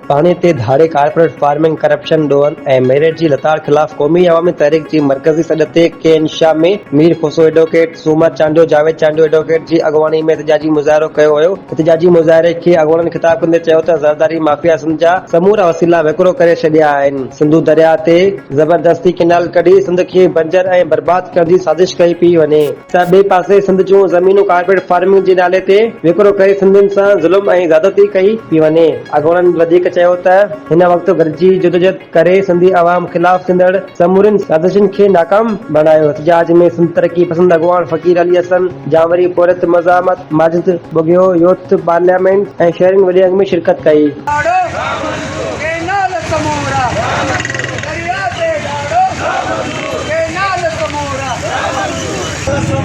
پاڻي تي ڌاڙي، ڪارپوريٽ فارمنگ، ڪرپشن، ڏوهن ۽ ميرٽ جي لتاڙ خلاف قومي عوامي تحريڪ جي مرڪزي سڏ تي K N Shah ۾ Mir Khoso advocate, Soomar Chandio, Javed Chandio advocate جي اڳواڻي ۾ احتجاجي مظاهرو ڪيو ويو. احتجاجي مظاهري کي اڳواڻن خطاب ڪندي چيو ته زرداري مافيا سنڌ جا سمورا وسيلا وڪرو ڪري ڇڏيا آهن، سنڌو درياهه تي زبردستي ڪينال ڪڍي سنڌ کي بنجر ۽ برباد ڪرڻ جي سازش ڪئي پيئي وڃي. ته ٻئي پاسي سنڌ جون زمينون ڪارپيٽ فارمنگ جي نالي تي وڪرو ڪري سنڌين سان ظلم ۽ زيادتي ڪئي پي وڃي. اڳواڻن وڌيڪ چيو ته هن وقت گڏجي جدوجهد ڪري سنڌي عوام خلاف ٿيندڙ سمورين سازشن کي ناڪام بڻايو احتجاج ۾ سنڌ ترقي پسند اڳواڻ فقير علي حسن جانوري پورهيت مزاحمت ماجد ٻگهيو يوٿ پارليامينٽ ۽ شهرين وڏي انگ ۾ شرڪت ڪئي. ڏاڙهو ڪينال سمورا درياء تي ڏاڙهو.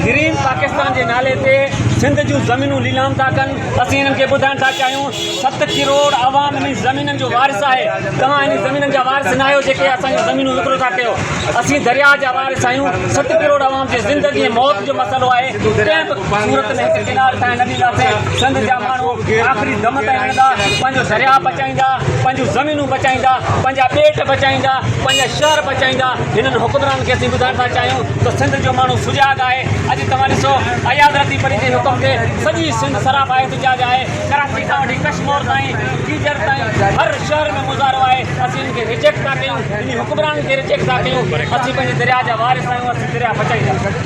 گرين پاڪستان جي نالي تي سنڌ جون زمينون ليلام ٿا ڪن اسين انهن کي ٻڌائڻ ٿا چاهيون ست ڪروڙ عوام انهن زمينن جو وارث آهي توهان انهن زمينن جا وارث ناهيو جيڪي اسان جون زمينون وڪرو ٿا ڪيو اسين درياء جا وارث آهيون ست ڪروڙ عوام جي زندگي ۽ موت جو مسئلو آهي ڪنهن به صورت ۾ هڪ ڪنال تائين نه ڏينداسين سنڌ جا ماڻهو آخري دم تائين لڙندا پنهنجو درياء بچائيندا پنهنجون زمينون بچائيندا پنهنجا ٻيٽ بچائيندا پنهنجا شهر چائيندا، هنن حڪمرانن کي اسين ٻڌائڻ ٿا چاهيون ته سنڌ جو ماڻهو سجاڳ آهي، اڄ توهان ڏسو اياز رتيپري جي حڪم تي سڄي سنڌ سراپا احتجاج آهي، ڪراچي کان وٺي ڪشمور تائين، جيجر تائين هر شهر ۾ مظاهرو آهي، اسين هنن کي ريجيڪٽ ٿا ڪيون، هنن حڪمرانن کي ريجيڪٽ ٿا ڪيون، اسين پنهنجي درياء جا وارث آهيون، اسين درياء بچائيندا.